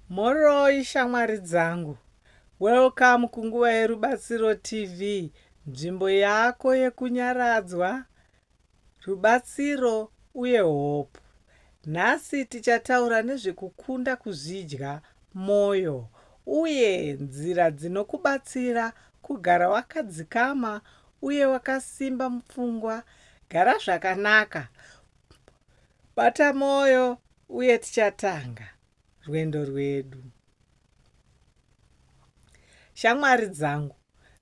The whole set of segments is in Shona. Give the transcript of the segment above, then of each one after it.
Mhoroi shamwari dzangu. Welcome kunguva yeRubatsiro TV, nzvimbo yako yekunyaradzwa, rubatsiro uye hope. Nhasi tichataura nezvekukunda kuzvidya moyo uye nzira dzinokubatsira kugara wakadzikama uye wakasimba mupfungwa. Gara zvakanaka Bata mwoyo uye tichatanga rwendo rwedu. Shamwari dzangu,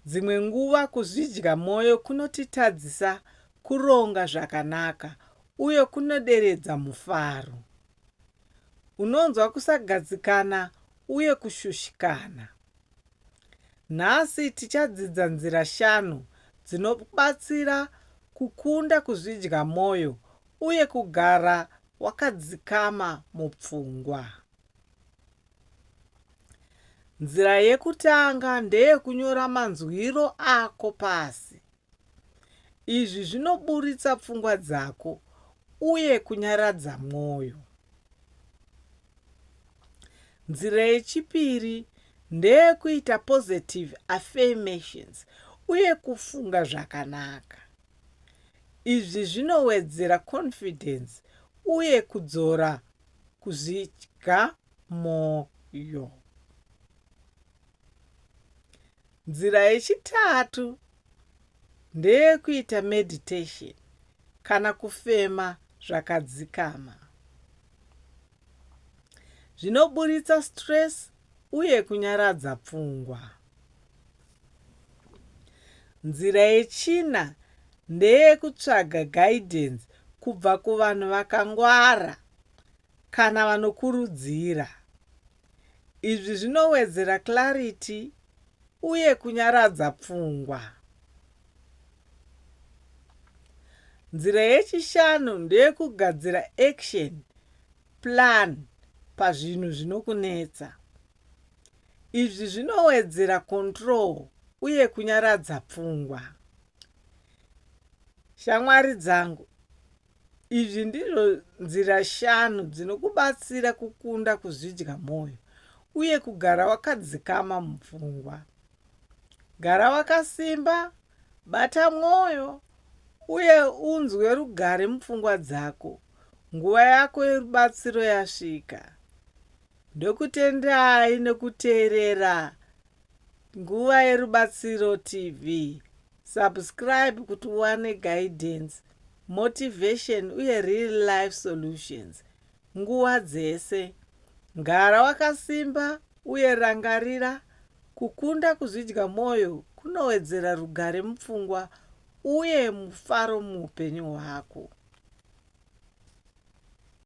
dzimwe nguva kuzvidya mwoyo kunotitadzisa kuronga zvakanaka uye kunoderedza mufaro. Unonzwa kusagadzikana uye kushushikana. Nhasi tichadzidza nzira shanu dzinokubatsira kukunda kuzvidya mwoyo uye kugara wakadzikama mupfungwa. Nzira yekutanga ndeyekunyora manzwiro ako pasi. Izvi zvinoburitsa pfungwa dzako uye kunyaradza mwoyo. Nzira yechipiri ndeyekuita positive affirmations uye kufunga zvakanaka. Izvi zvinowedzera confidence uye kudzora kuzvidya mwoyo. Nzira yechitatu ndeyekuita meditation kana kufema zvakadzikama. Zvinoburitsa stress uye kunyaradza pfungwa. Nzira yechina ndeyekutsvaga guidance kubva kuvanhu vakangwara kana vanokurudzira. Izvi zvinowedzera clarity uye kunyaradza pfungwa. Nzira yechishanu ndeyekugadzira action plan pazvinhu zvinokunetsa. Izvi zvinowedzera control uye kunyaradza pfungwa. Shamwari dzangu, Izvi ndizvo nzira shanu dzinokubatsira kukunda kuzvidya mwoyo uye kugara wakadzikama mupfungwa. Gara wakasimba, bata mwoyo, uye unzwe rugare mupfungwa dzako. Nguva yako yerubatsiro yasvika. Ndokutendai nokuteerera Nguva yerubatsiro TV. Subscribe kuti uwane guidance, motivation uye real life solutions nguva dzese. Gara wakasimba uye rangarira, kukunda kuzvidya mwoyo kunowedzera rugare mupfungwa uye mufaro muupenyu hwako.